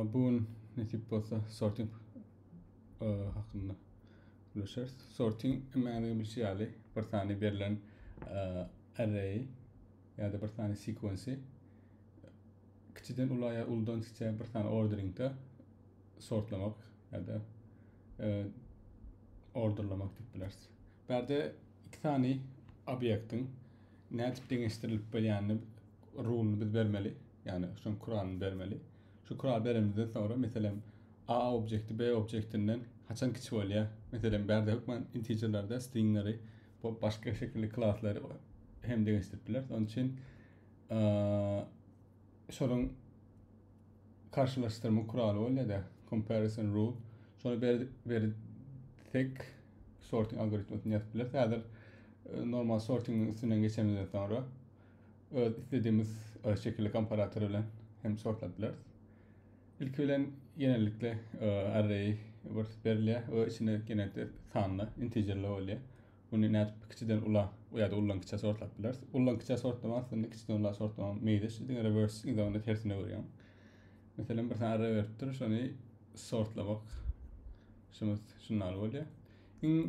Bu gün nesip bolsa sorting e, hakynda gürleşeris. Sorting emmäňiz bilşi ýaly bir sany berlen e, array ýa-da bir sany sequence kiçiden ula ýa uludan kiçä bir sany orderingde sortlamak ýa-da e, orderlamak diýip bileris. Bu ýerde iki sany obýektiň nädip deňeşdirilip bilýänini Rulyny biz bermeli. Ýagny şoň kuralyny bermeli. Şu kuraly berenimizden soňra meselem A objekti B objektinden haçan kiçi bolýar? Meselem bärde hökman integerlerde stringleri bu başga şekilli klaslary hem deňeşdirip bileris. Onun üçin şonuň karşılaştırma kuraly bolýar da comparison rule. Şonu berip tek sorting algoritmasini ýazyp bileris. Häzir e, normal sortingiň üstünden geçenimizden soňra öz isledimiz e, şekilli komparator bilen hem sortlap bileris. İlki bilen genellikle e, array bir berilýär we içinde genellikle sanly integerler bolýar. Bunu nädip kiçiden ula ýa-da ullan kiçä sortlap bileris. Ullan kiçä sortlama aslynda kiçiden ula sortlamaň meýleşi, diňe reverse ýagynda tersine görýär. Meselem, bir sany array beripdir, şony sortlamak şumuz şundan bolýar. Iň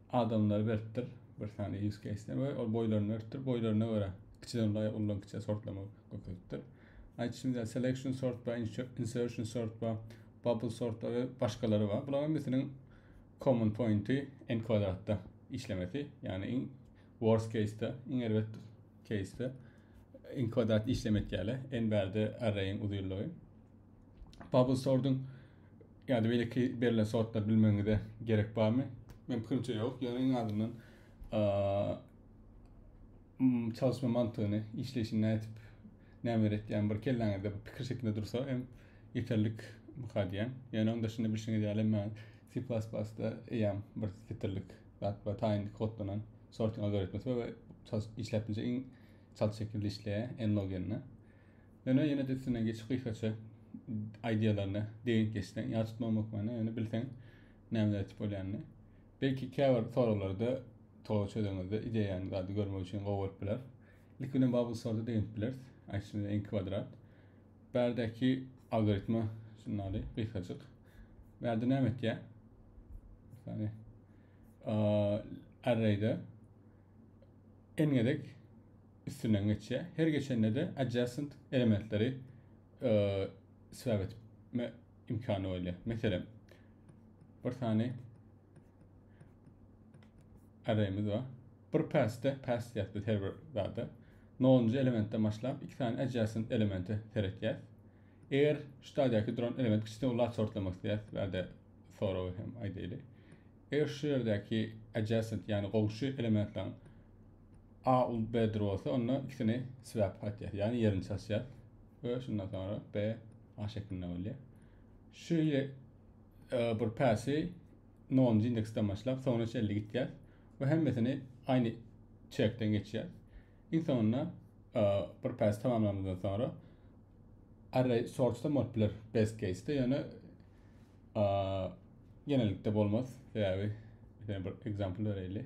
adamlary beripdir bir sany use case we ol boýlaryny beripdir boýlaryna görä kiçiden ulaýa uludan kiçä sortlama görkezipdir aýtýşymyzda selection sort bar insertion sort bar bubble sort bar we başgalary bar bularyň hemmesiniň common pointi n kwadratda işlemesi ýagny iň worst case-de iň erbet case-de n kwadrat işleme etýärler n bärde arraýiň uzynlygy bubble sortuň Ýa-da beýleki berlen sortlary bilmegiňize gerek barmy? Men pikirimçe ýok. Ýöne iň azyndan çalışma mantygyny, işleýşini nädip, näme öwretýän bir kelläňizde bir pikir şeklinde dursa hem ýeterlik mykar diýýän. Ýöne onda şunda bilşiňiz ýaly men C++-da eýýäm bir setirlik zat we taýyn kodlanan sorting algoritmisi we işläp biljek iň çalt şekilde işleýär, n-log n-e. Ýöne ýene-de üstünden geçip gysgaça ideýalaryny degint geçseň, ýat tutmagyň hökmany ýöne bilseň nämeler etip bolýanyny. Belki käbir soraglarda toga çözeňizde ideýany zady görmek üçin gowy bolup biler. Ilki bilen Bubble Sorty degint bileris. Aýtjyny en kwadrat. Bärdäki algoritma şundaly gysgajyk. Bärde näme etýär? Ýani arrayda n gezek üstünden geçýär. Her geçende-de adjacent elementleri swap etme imkany bolýar. Meselem, bir sany arraýymyz bar. Bir passde, pass diýýäs biz her bir zada. Nolunjy elementden başlap, iki sany adjacent elemente seretýäs. Eger şu stadiýaky duran element kiçiden ula sortlamak isteyas, bärde soragy hem aýdaýly. Eger şu ýerdäki adjacent, ýagny goňşy elementleriň A ul B dir bolsa, onda ikisini swap gaýtýar, ýagny ýerini çalyşýar we şundan soňra B A şeklinde bolýar. Şu e, bir päsi 0-njy indeksden başlap, soňra çenli gitýär we hemmesini aýny çekden geçýär. Iň soňunda e, bir päsi tamamlanandan soňra array sortda bolup biler best case-de, ýöne e, genelikde bolmaz. Sebäbi bir example bereýli.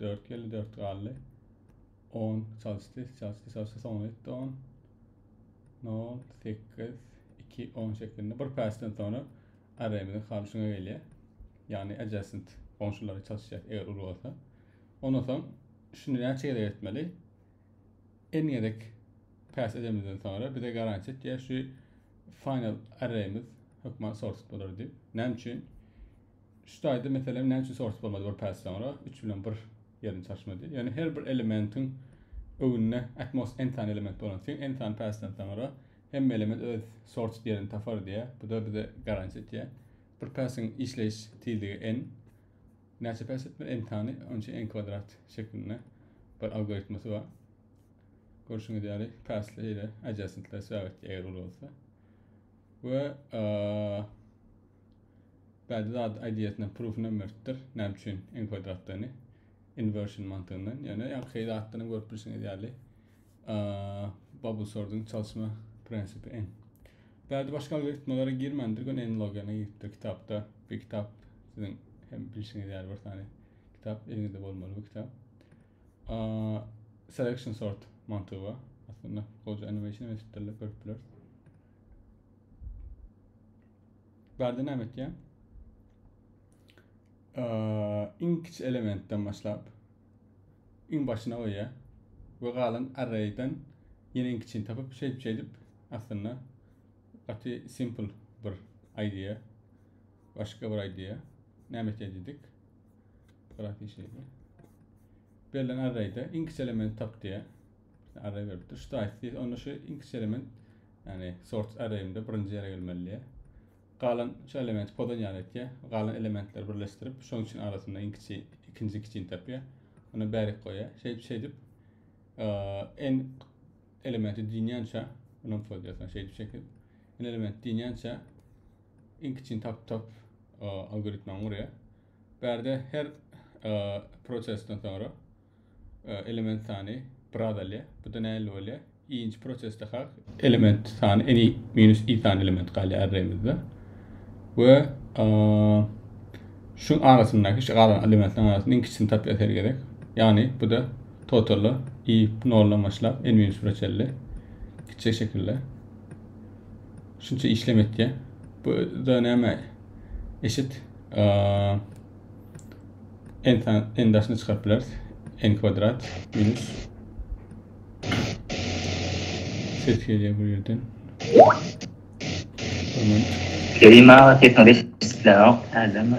Dört geldi, dört galdy. On çalıştı, çalıştı, çalıştı. Soňuna gitti on. Nol, sekiz, iki, on şeklinde. Bir päsden sonra array'mizin halşyna gelýär. Yani adjacent qonşulara çalışacak eğer ulu olsa. Ondan soň şunu näçe gezek etmeli? En gezek pass edemizden sonra bize garanti etýär şu final array'miz hökman sorted bolar diýip. Näme üçin? Şu taýda meselem näme üçin sorus bolmady bir päs soňra üç bilen bir ýerini çalyşmady. Ýöne her bir elementiň öwünde atmost n sany element bolan syn n sany päsden soňra hemme element öz sorus ýerini tapar diýýä. Bu da bize garantiýa etýä. Bir päsiň işleýiş tizligi n näçe päs etmeli n sany onçe n kwadrat şeklinde bir algoritmasy bar. Görşüňiz ýaly päsli ýere adjacentler sebäp etýär eger uly bolsa. Ve Bady zat ideýasyna proof namertdir. Näme üçin n kwadratdygyny inversion mantygyndan. Ýöne ýa şeý zatdan görüp bilşiňiz ýaly bubble sorting çalyşma prinsipi n. Bady başga algoritmalara girmändir, gön n logana giripdir kitapda. Bir kitap siziň hem bilşiňiz ýaly bir tane kitap eliňizde bolmaly bu kitap. Selection sort mantygy bar. Aslynda goja animation hem etipdirler, görüp bileris. Bärde näme etýär? Iň kiçi elementden başlap, iň başyna goýýar we galan array'den ýene iň kiçini tapyp, şeýdip şeýdip aslynda gaty simple bir idea. Başga bir idea. Näme etýär diýdik? Graf işledi. Berlen array'de iň kiçi elementi tap diýär. Arraýberdi. Tuş daýysy diýse, onda şu iňkisçe element, ýagny sorts arraýinde birinji ýere gelmelidi. Galan şu elementi pozan ýaly etýär. Galan elementleri birleşdirip, şonuň üçin arasynda iňkiçi, ikinji kiçini tapýar. Ony bärik goýýar. Şeýdip, şeýdip, eee, n elementi dünýänçä, munam pozýasyna şeýdip, şeýdip, n elementi dünýänçä iňkiçini tapyp, tapyp, eee, algoritmany gurýar. Bärde her prosesden soňra element sany bir az alýar. Bu da näle bolýar? Iýinji prosesde hak element sany n minus i sany element galýar arraýymyzda. We şu arasyndaky şu galan elementleriň arasynda iň kiçisini tapýar her gezek. Ýagny bu da totally i noldan başlap n minus 1 çenli kiçi şekilde. Şunça işlem etýär. Bu da näme? eşit n n daşyna çykaryp bileris n kwadrat minus ses gelýär bu ýerden Kerim aga sesiň resmi çykýanok nädemi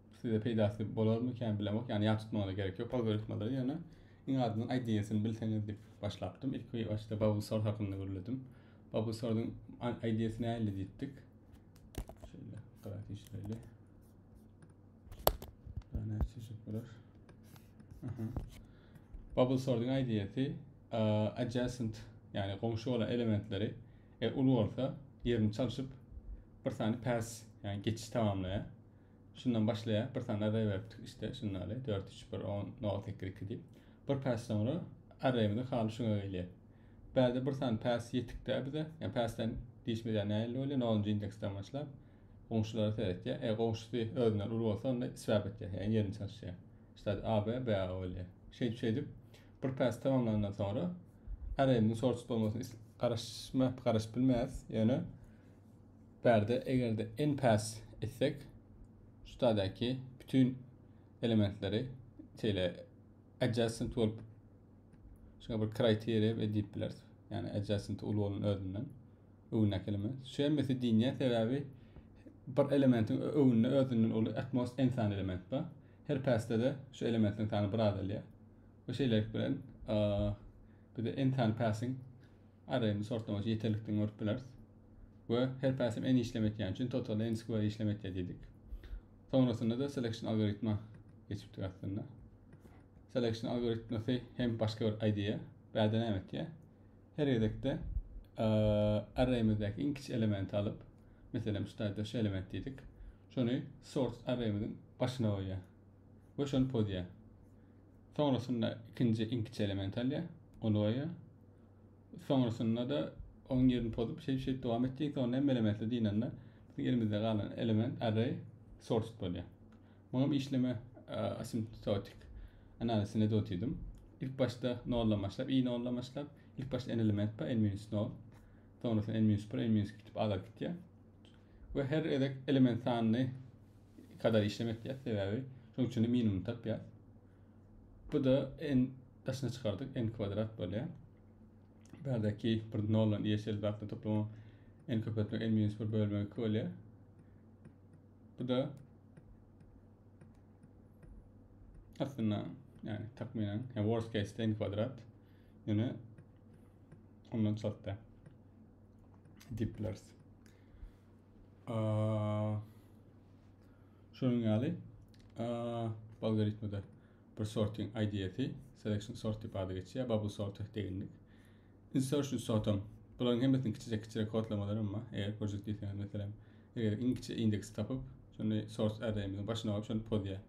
Size peýdasy bolarmykan bilemok, ýagny ýat tutmagyna gerek ýok algoritmalary, ýöne iň azyndan IDEA-syny bilseňiz diýip başlapdym. Ilki başda Babusor hakynda gürledim. Babusoryň IDEA-sy nähili diýipdik. Şeýle gara işleli. Ana çeşit bolar. Aha. Babusoryň IDEA-sy adjacent, ýagny goňşy bolan elementleri e, uly bolsa ýerini çalşyp bir sany pass, ýagny geçiş tamamlaýar. Şundan başlaýar, bir sany array beripdik işte, şunda ýaly, dört, üç, bir, on, nol, sekiz, iki diýip. Bir päs soňra arraýymyzyň haly şuňa gelýär. Bärde bir sany päs ýetikdä bize, ýa päsden diýişimiz ýa nähili bolýar, nolunjy indeksden başlap, goňşulara seretýär. Eger goňşusy özünden uly bolsa, onda swap etýär, ýagny ýerini çalyşýar. Şitadi AB, BA bolýar. Şeýdip, şeýdip, bir päs tamamlandan soňra arraýymyzyň sorted bolmagyna garaşmap, garaşyp bilmeýäris, ýöne, Pärde egerde en päs etsek şu taýdaky bütün elementleri şeýle adjacent bolup şuňa bir criteria we diýip bileris. Yani adjacent uly bolan özünden öwündäki element. Şu hemmesi diýinýär sebäbi bir elementiň öwünde özünden uly at most en sany element bar. Her päsde de şu elementiň sany bir azalýar. Bu şeýlelik bilen bize en sany päsiň Array'ni sortlamoç ýeterlikden görüp bileris. We her päsim n işlem etýän üçin total n square işlem etýär diýdik. Soňrasynda-da selection algoritma geçipdik aslynda. Selection algoritmasy hem başga bir IDE. Bärde näme etýär? Her gezekde array'mizdäki iň kiçi elementi alyp, meselem şu taýda şu element diýdik. Şony sort array'miziň başyna goýýar. We şony pozýar. Soňrasynda ikinji iň kiçi elementi alýar, ony goýýar. Soňrasynda-da onuň ýerini pozup, şeýdip, şeýdip dowam etjek. Soňra hem mele-mesle dynanda, biziň elimizde galan element, array, sorted bolýar. Muňam işleme asymptotik analizine dotydym. Ilk başda noldan başlap, i noldan başlap, ilk başda n element bar, n minus nol. Soňrasynda n minus bir, n minus iki diýip azap gitýär. We her gezek element sanyny kadar işlemek diýýär, sebäbi şonuň üçin minimum tapýar. Bu-da n Daşyna çykardyk n kwadrat bolýar. Bärdäki bir noldan y şeýle zatlar toplumyň n köpeltmek n minus 1 bölmek 2 bolýar. Bu da aslynda yani takminen yani worst case ten kvadrat yani ondan çatda diplers şunun ýaly algoritmada Bir sortyň IDF-i, Selection Sort diýip ady geçýär, Bubble Sorter teginlik, Insertion Sortam. Bularyň hemmesiniň kiçijek-kiçijek kodlamalaram bar. Eger görjek diýseňiz, meselem, eger iň kiçi indeksi tapyp, şony source array-miziň başyna goýup, şony pozýar.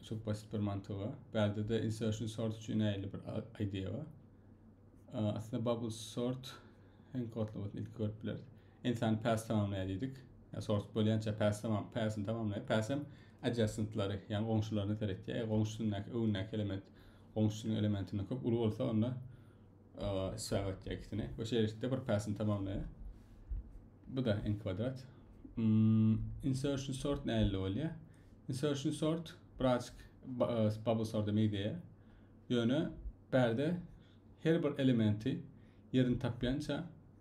Çok basit bir mantygy bar. Bärdede insertion sort üçin näýeli bir idea bar. Aslynda bubble sort hem kodlamasyny ilki görüp bileris. Ensan päs tamamlaýar diýdik. Ýa sortup bolýança päs tamam, päsini tamamlaýar. Päsem adjacent-lary, ýagny goňşularyna seretýär. Eger goňşusyndaky, öňündäki element goňşusynyň elementinden köp uly bolsa, onda isbap etýär ikisini. Bu şertde bir päsini tamamlaýar. Bu da n kwadrat. Hmm, insertion sort näle bolýar? Insertion sort birazcık bubble sorta meýdeýär. Ýöne bärde her bir elementi yerini tapýança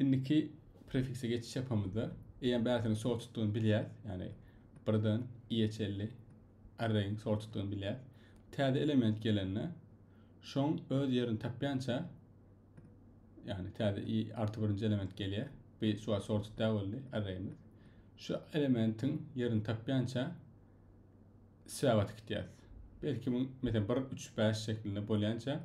Indiki prefikse geçiş ýapamyzda, eýýäm bärisiniň şol tutdugyny bilýäs, ýagny birden i-e çenli arraýyň şol tutdugyny bilýäs. Täze element gelende, şoň öz ýerini tapýança, ýagny täze i arty birinji element gelýär. Bu şu wagt şol tutda boldy arraýymyz. Şu elementiň ýerini tapýança swäwa tikitýäs. Belki bu, meselem, bir, üç, bäş şeklinde bolýança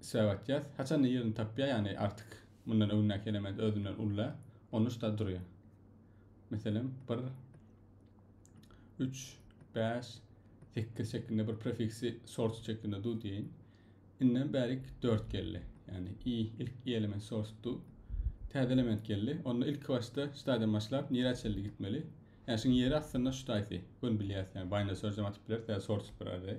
Söýg atýas. Haçanda ýerini tapýar, ýagny artyk mundan öňündäki element özünden ulla, ony şda durýar. Meselem, bir, üç, bäş, sekiz şeklinde bir prefiksi source şeklinde du diýeýin. Inden bärik dört geldi. Ýagny i ilk i element source du. Täze element geldi. Onda ilki başda şdadan başlap nirä çenli gitmeli? Ýagny şuň ýeri aslynda şdaýsy. Göni bilýäs, ýagny binder search hem atyp bileris, tä source bir array.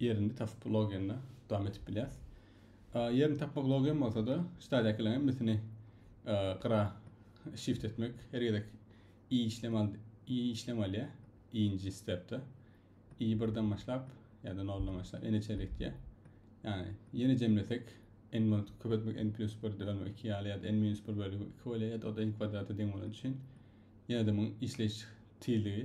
Ýerini tapyp logiýanda dowam edip bilýäs. Ýerini tapmak logiýam bolsa-da, stadiýakylaň hemmesini gyra shift etmek her gezek i işlem al, i işlem alýar. Iýinji stepde. I birden başlap, ýa-da noldan başlap, ene çenli gitýär. Ýani, ýene jemlesek, n bolup köpeltmek n plus 1 bölme 2 ýaly ýa-da n minus 1 bölme 2 bolýar ýa-da o-da n kwadrata deň bolany üçin ýene-de muň işleýiş tizligi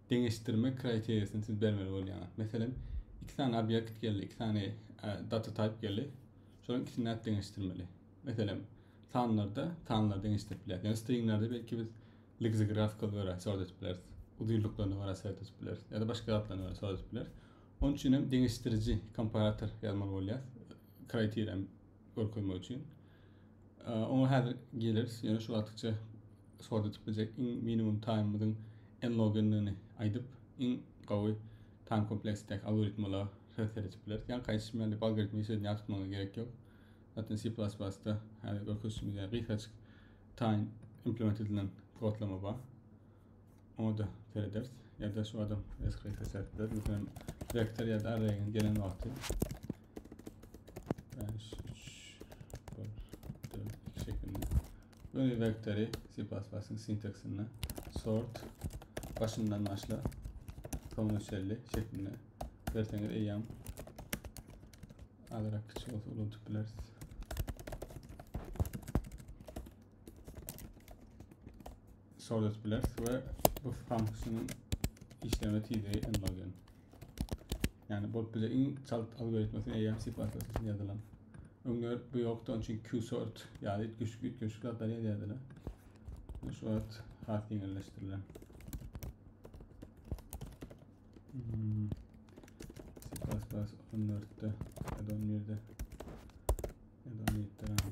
deňeşdirme kriteriýasyny siz bermeli bolýaňyz. Meselem, iki sany obýekt geldi, iki sany data type geldi. Şolaryň ikisini nädip deňeşdirmeli? Meselem, sanlarda sanlar deňeşdirip bileris. Ýa-da stringlerde belki biz lexigraphical görä sort edip bileris. Uzynlyklaryna görä sort edip bileris. Ýa-da başga zatlaryna görä sort edip bileris. Onuň üçin hem deňeşdiriji komparator ýazmaly bolýar. Kriteriýa görkezmek üçin. Oňa häzir geleris. Ýöne şu wagtça sort etip biljek iň minimum taýmymyzyň en logendigini aýdyp, iň gowy taým kompleksdäki algoritmala refer etip bileris. Ýa gaýçyş bilen dip algoritmi işe ýa tutmaga gerek ýok. Zaten C++-da häzir görkezişimiz ýa gysgaçyk taým implement edilen kodlama bar. Oňa da serederis. Ýa-da şu adam SQL-e serip biler. Meselem, vektor ýa-da array gelen wagty 5, 3, 1, 4, 2 şeklinde. Böyle vektory C++'ın sintaksinde sort başından başla sonuna çelli şeklinde verseniz eyyam alarak kiçik olsa unutup biliriz. Sorted Blast we bu funksiýanyň işleme tizligi enloggen. Yani bu bize iň çalt algoritmasy eýýäm C++ üçin ýazylan. Öňler bu ýokdy, onun üçin QSort ýaly güçlük üýtgeşik zatlar ýazýardylar. Şu wagt has ýeňilleşdirilen. Hmm. C++ 14-de, 11-de, 17-de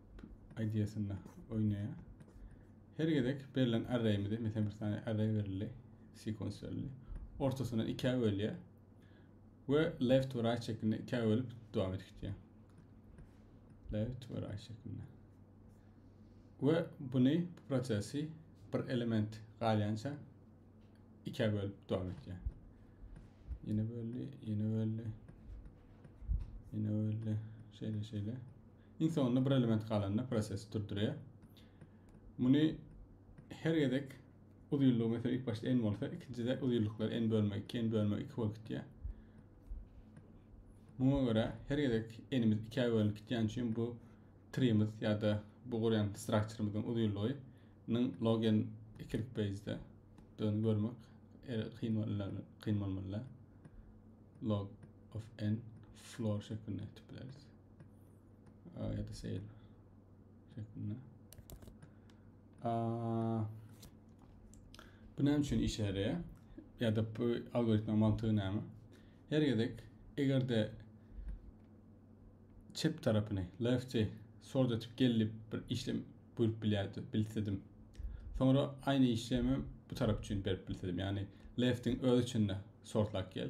ideýasynda oýnaýar. Her gezek berlen arraýimizi, meselem bir sany arraý berildi, sekans berildi. Ortasyna ikä bölýär we left to right şeklinde ikä bölüp dowam edip gitýär. Left to right şeklinde. Ve bunu bu prosesi bir element galýança ikä bölüp dowam edýär. Ýene böldi, ýene böldi. Ýene böldi. Şeýle şeýle. Iň soňunda bir element galanda prosesi durdurýar. Muny her gezek uzynlygy mesela ilk başda n bolsa, ikinjide uzynlyklary n bölme 2, n bölme 2 bolup gitýär. Muňa görä her gezek enimiz 2-ä bölünip gitýän üçin bu trimiz ýa-da bu gurýan strukturymyzyň uzynlygynyň log n ikilik base-de döni görmek er, kyn bolmaly, kyn bolmaly. Log of n floor şeklinde etip bileris. A ya da seyir şeklinde. A, bu näme üçin işe yaraýar? Ya da bu algoritma mantygy näme? Her gezek egerde çep tarapyny left'i sort etip gelip bir işlem buyurup bilýärdi, bilsedim. Sonra aynı işlemi bu taraf üçin berip bilsedim. Yani left'in öz içinde sortlap gel.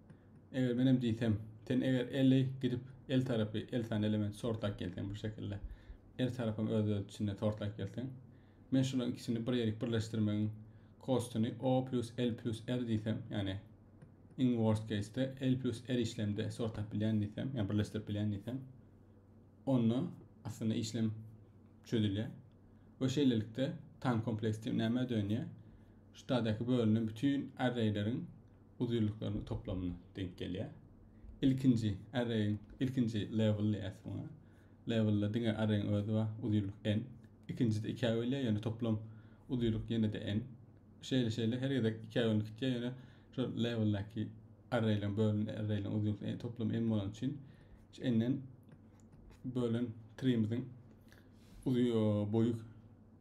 Eger menem diýsem, sen eger elli gidip el tarapy el sany element sortlap gelseň bu şekilde, er tarapam öz öz içinde sortlap gelseň, men şularyň ikisini bir ýerik birleşdirmegiň kostyny o plus el plus er diýsem, ýagny iň worst case-de el plus er işlemde sortlap bilýän diýsem, ýa birleşdirip bilýän diýsem, onda aslynda işlem çözülýär. We şeýlelikde tan kompleks diýip nämä dönýär? Şu tadaky bölünen bütün arraýleriň uzynlyklarynyň toplamyna deňk gelýär. Ilkinji arraýyň ilkinji level diýýäs muňa. Levelde diňe arraýyň özi bar, uzynlyk n. Ikinjide ikä bölýär, ýöne toplam uzynlyk ýene-de n. Şeýle-şeýle her gezek ikä bölünip gitýär, ýöne şu leveldäki arraýlaryň bölünen arraýlaryň uzynlygynyň toplam n bolany üçin şu n-den bölen treemiziň uzy boýy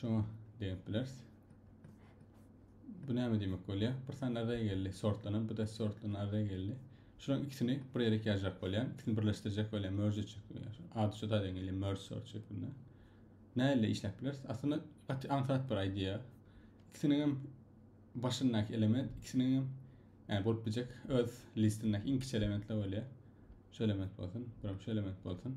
Şoňa deňip bileris. Bu näme diýmek bolýar? Bir sany array geldi. Sortlanan, bu da sortlanan array geldi. Şular ikisini bir ýere ýazjak bolýar. İkisini birleşdirjek bolýar, merge etjek bolýar. Ady şu zadyň gelýär, merge sort şeklinde. Näle işläp bileris? Aslynda gaty aňsat bir idea. İkisiniň hem başyndaky element, ikisiniň hem yani bolup biljek öz listindäki iň kiçi elementler bolýar. Şu element bolsun, bir hem şu element bolsun.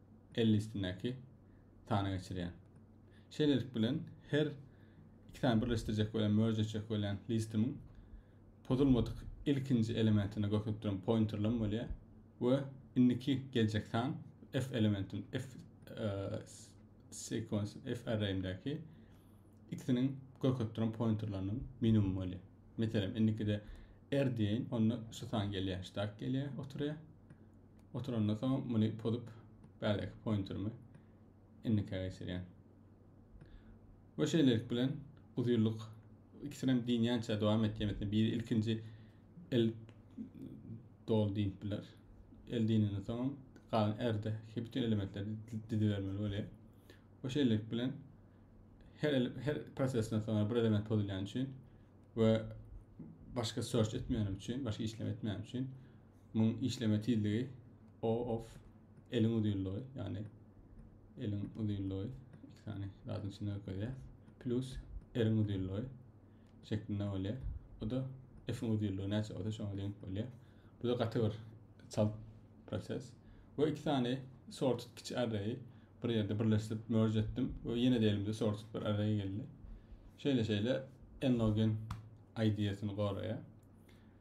elli üstündäki sany geçirýär. Şeýlelik bilen, her iki sany birleşdirjek welin merge etjek welin listimiň pozulmadyk ilkinji elementine görkezipdiren pointerlem bolýar we indiki geljek san F elementim F sequence F arraýimdäki ikisiniň görkezipdiren pointerleriniň minimum bolýar. Meselem, indikide R diýeýin, onda şu san gelýär, stack gelýär, oturýar. Oturandan soň muny pozup bärdeky pointerimi indike geçirýän. We şeýlelik bilen uzynlyk ikisinem diýinýänçä dowam etýän etme biri ilkinji el dol diýip biler. El diýenden soň galan erde ki bütün elementleri dizibermeli bolýar. We şeýlelik bilen her her prosesden soň bir element pozulýan üçin we başga search etmeýänim üçin, başga işlem etmeýänim üçin Muň işleme tizligi O of eliň uzynlygy, ýagny eliň uzynlygy iki sany zadyň içinde görkezýär. Plus eriň uzynlygy şeklinde bolýar. Bu da F-iň uzynlygy näçe bolsa şoňa deňik bolýar. Bu da gaty bir çalt proses. We iki sany sorted kiçi arraýy bir ýerde birleşdirip merge etdim we ýene de elimde sorted bir arraý geldi. Şeýle-şeýle n-log-n ideýasyny goraýar.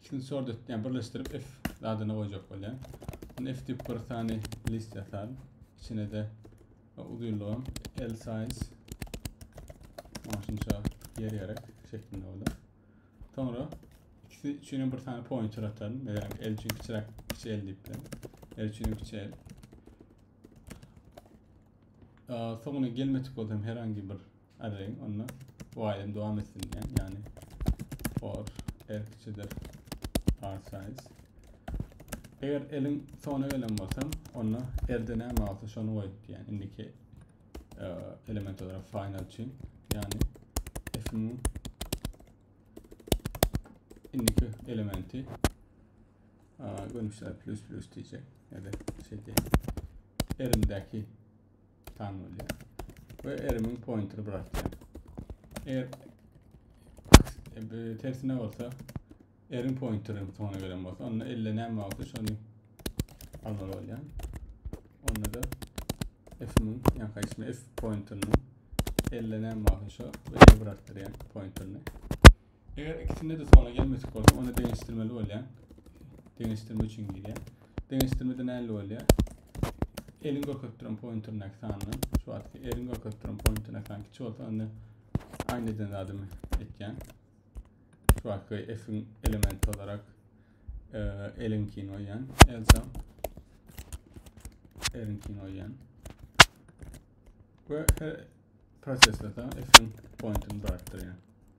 Ikisini sordet diýen birleşdirip F zadyny goýjak bolýan. Bunu F diýip bir sany list ýasaň. İçine de uzynlygam L size şunça yer gerek şeklinde oldu. Sonra ikisi üçin bir sany pointer atalım. Mesela L üçin kiçirak kiçi L diýip bilen. L üçin kiçi L. Soňuna gelmedik bolsam herhangi bir Arraýyň onda bu aýdym dowam etsin diýýän, ýagny for r kiçidir part size. Eger eliň soňuna gelen bolsam, onda r-de näme bolsa şony goýup diýýän. Indiki e, element olarak final üçin, ýagny f-niň indiki elementi görnüşler plus plus diyecek ya da şey diye elimdeki Tan bolýar. Ve erimiň pointini bırakýar. Eger e, tersine olsa erin pointini soňuna gelen bolsa onda 50 näme bolsa şony almaly bolýar. Onda da f-iň ýa-da ismi f pointini 50 näme bolsa şo we bırakdyrýar pointini. Eger ikisinde de sona gelmesek bolsa, onda deňeşdirmeli bolýar. Deňeşdirme üçin girýär. Deňeşdirmede näli bolýar? Elin görkezip duran pointerine sandan, şu wagtky elin görkezip duran pointerine san kiçi bolsa, onda aynı eden zadymy etýän. Şu wagtky F-iň elementi olarak e, elinkini goýýan. Elsa elinkini goýýan. Ve her prosesde de F-iň pointini bıraktırýan.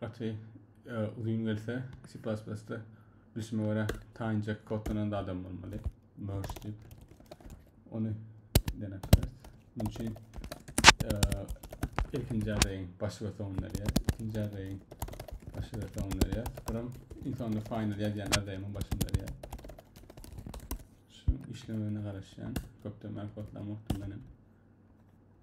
Gaty e, uzun gelse C++ da bilişime göre taýynjak kodlanan adam bolmaly. Merge diýip. Ony denek bileris. Munuň üçin e, ilkinji arraýyň başy we soňuny berýäris. Ikinji arraýyň başy we soňuny berýäris. Buram iň soňunda final ýazýan arraýymyň başyny berýär. Şu işlemegine garaşýan. Köpden bäri kodlamakdym menem.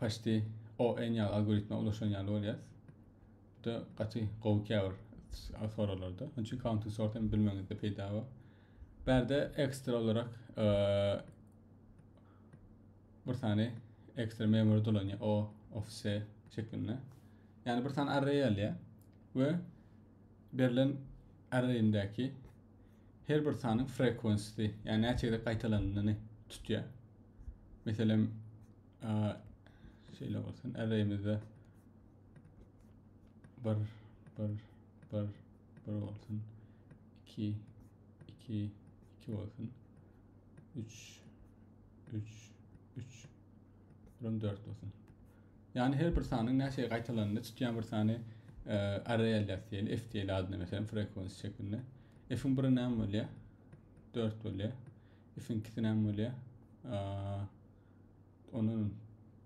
Paşti o en ýaly algoritme ulaşan ýaly bolýas. Bu da gaty gowy käbir soralarda. Onun üçin counting sort hem bilmeňizde peýda bar. Bärde ekstra olarak e, bir sany ekstra memory dolanýar o ofise şeklinde. Yani bir sany array alýar we berlen arrayindäki her bir sanyň frequency-si, ýagny näçe gezek gaýtalanyny tutýar. Meselem, şeýle bolsun, arraýymyzda bir, bir, bir, bir bolsun, iki, iki, iki bolsun, üç, üç, üç, Buram 4 bolsun. Yani her bir sanyň näçe gaýtalananda çykýan bir sany e, array alýas diýeli, f diýeli adyna meselem frekwensi şeklinde. F-iň biri näme bolýar? 4 bolýar. F-iň ikisi näme bolýar? Onun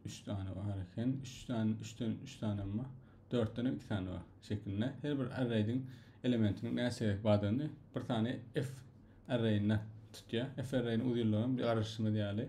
3 tane bar eken. 3 tane 3 tane 3 tane ama 4 tane 2 tane var şeklinde. Her bir array'in elementinin näçe badany bir tane f array'ine tutýar. F array'iniň uzynlygyny bir garaşymyz ýaly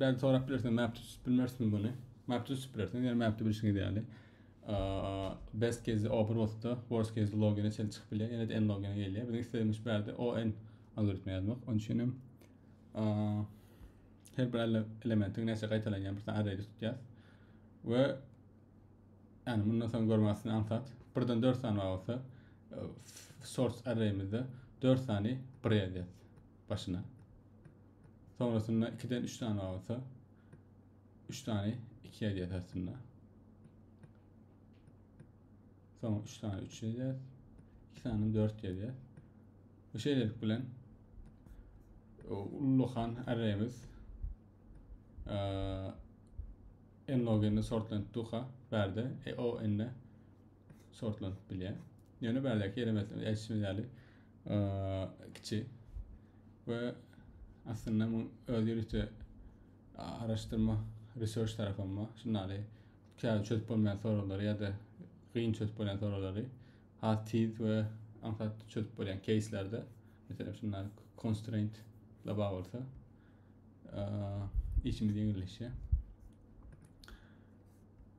Belki sorap bilersiňiz mapde tutip bilmerismi muny? Mapde tutip bilersiňiz, ýöne mapde bilşiňiz ýaly best case open bolsa worst case logine çenli çykyp bilýär, ýene-de n logine gelýär. Biziň islegimiz şu ýerde on algoritmi ýazmak. Onuň üçin hem her bir elementiň näçe gaýtalanýan bir array tutýar. We yani bundan soň görmezsin ansat. Birden 4 sany olsa e, source array'imizde 4 sany bir ýazýar başyna. Sonrasynda ikiden üç sany galsa, üç sany iki edýäs aslynda. Soň üç sany üç edýäs. İki sany dört edýäs. Bu şeýlelik bilen ullakan arrayimiz n log n sortlanıp duka bärde e o n sortlanyp bilýär. Ýöne bärdäki ýere meselem erişme ýaly kiçi we aslynda bu öz ýörite araşdyrma research tarafynda şundaly käbir çözüp bolmaýan soraglary ýa-da gyn çözüp bolýan soraglary has tiz we aňsat çözüp bolýan keyslerde meselem şundan constraint la bar bolsa işimiz ýeňilleşýär.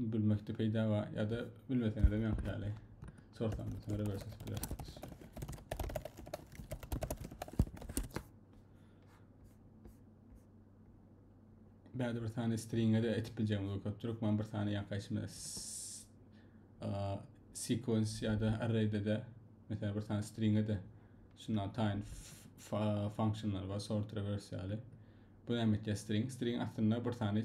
Bilmekde peýda bar ýa-da bilmeseňizem ýaňky ýaly sorsaňyz soňra görseňiz bilersiňiz. Bäde bir sany stringe de etip biljegimiz bolup köpdür. Men bir sany ýaňky içime sequence ýa-da array'de de mesela bir sany stringe de şundan taýyn functionlar bar, sort reverse ýaly. Bu näme etýär string? String aslynda bir sany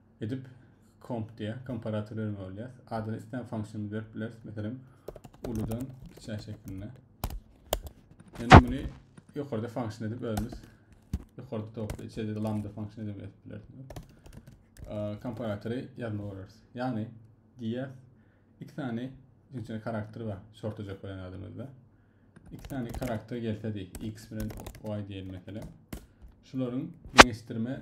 Edip comp diýýär. Komparator bermeli bolýar. Adyny islän funksiýamyzy berip bileris. Meselem, uludan kiçä şeklinde. Indi muny ýokarda funksiýa edip özümiz ýokarda topda içeride de lambda funksiýa edip edip bileris. Komparatory ýazma görüris. Ýagny diýýär iki sany üçünçi karakter bar. Şorta jok bolan adamyzda. İki sany karakter gelse diý. X bilen Y diýelim meselem. Şularyň deňeşdirme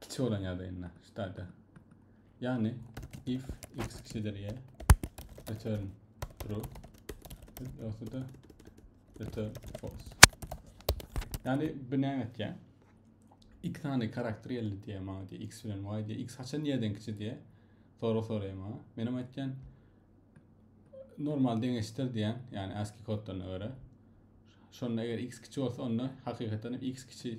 kiçi bolan ýagdaýynda ştada. Ýagny if x kiçidir y return true ýogsa da return false. Ýagny bu näme etýär? X sany karakter geldi diye maňa diye x bilen y diye x haçan nireden kiçi diye soru soraýar maňa. Men hem aýtýan normal deňeşdir diýen, ýagny ASCII kodlaryna görä. Şonda eger x kiçi bolsa onda hakykatdan x kiçi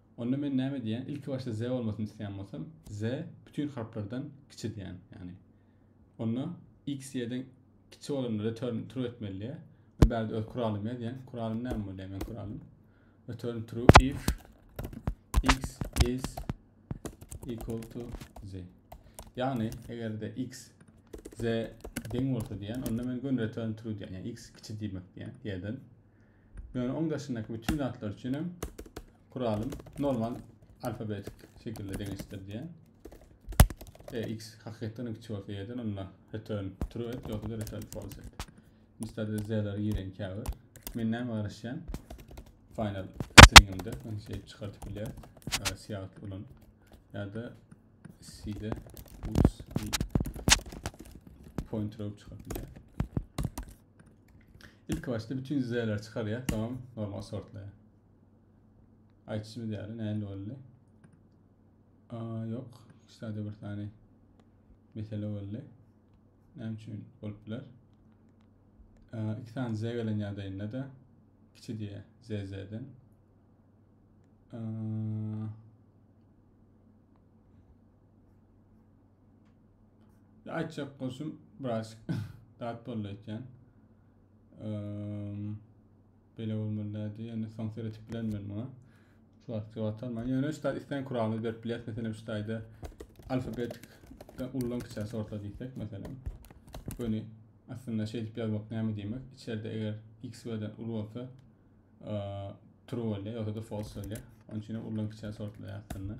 Onda men näme diýýän? Ilki başda ze bolmasyn isleýän bolsam, ze bütin harplardan kiçi diýýän. Ýagny onda x ýeden kiçi bolanda return true etmeli diýýär. Men bärde öz kuralym ýazýan. Kuralym näme bolýar men kuralym? Return true if x is equal to z. Ýagny eger-de x z deň bolsa diýen, onda men gön return true diýen. Ýagny x kiçi diýmek diýen ýerden. Ýöne oň daşyndaky bütin zatlar üçinem kuralym normal alfabetik şekilde deňeşdir diýen. E, x hakykatdan kiçi bolsa ýerden onda return true et, ýogsa da return false et. Mistade z'leri giren käbir. Men näme garaşýan? Final stringimde men şey çykartyp bilýär. Siyahut ulan. Ya da C'de uts pointer alıp çıkabilir. Ilki başda bütün düzeyleri çıkarýar, soňam normal sortlaýar. Aýtşymyz ýaly näme boldy? Aa, ýok. Şeýle bir sany mesele boldy. Näme üçin bolup biler? Aa, iki sany Z gelen ýagdaýynda da kiçi diýe ZZ-den. Aa, Aýtjak bolsam, biraz dat boldy aýtýan. Bele bolmaly dädi, ýöne soň seretip bilen men muňa. Şu wagtky wagtar men ýöne şu taýda isleýän kuralyny berip bileris. Meselem şu taýda alfabetik ullan kiçä sortla diýsek meselem. Göni aslynda şeýdip ýazmak näme diýmek? Içeride eger x we den uly bolsa true bolýar ýa-da false bolýar. Onuň üçin ullan kiçä sortla ýazsynlar.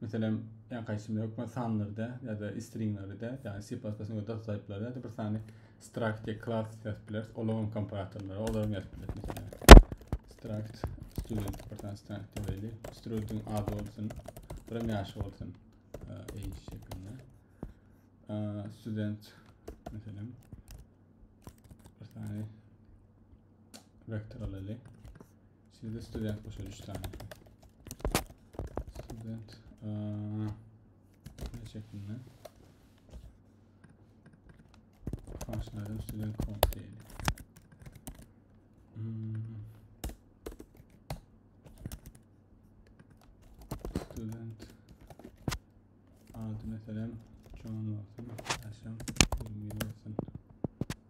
Meselem, ýa gaýsymyz hökmany sanlarda ýa-da stringlerde, ýagny C++ we data taýplarda ýa-da bir sany struct ýa klass ýazyp bileris, olaryň komparatorlary, olaryň ýazyp bileris. Meselem, struct student bir sany struct ýazaýly, student ady bolsun, bir ýaşy bolsun, age şeklinde. Student meselem bir sany vektor alaýly. Sizde student boşa üç tane. Student. Aa, ne şeklinde? Karşıladım student kont değil. Hmm. Student. Adı mesela John olsun. Yaşam 20 yıl olsun.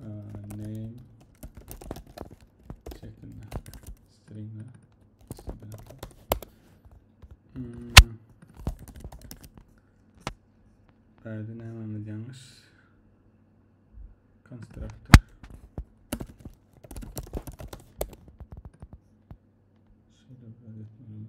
name şeklinde string hmm. Bäde nämämiz ýalňyş? Konstruktor. Şöyle bir etmeliyim.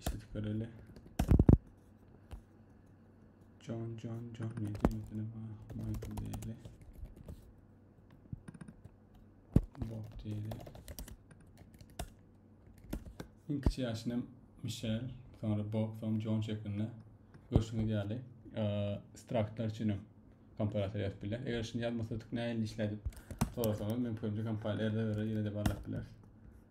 Eşidip göreli. John John John ne diýmesine bar. Michael diýeli. Bob diýeli. Iň kiçi ýaşyna Michelle, sonra Bob, sonra John şeklinde görüşüňiz ýaly straktlar üçin hem komparator ýazyp biler. Eger şunu ýazmasadyk näýeli işlädip sorasaňyz mümkinçe kompaniýa erde göre ýene-de barlap biler.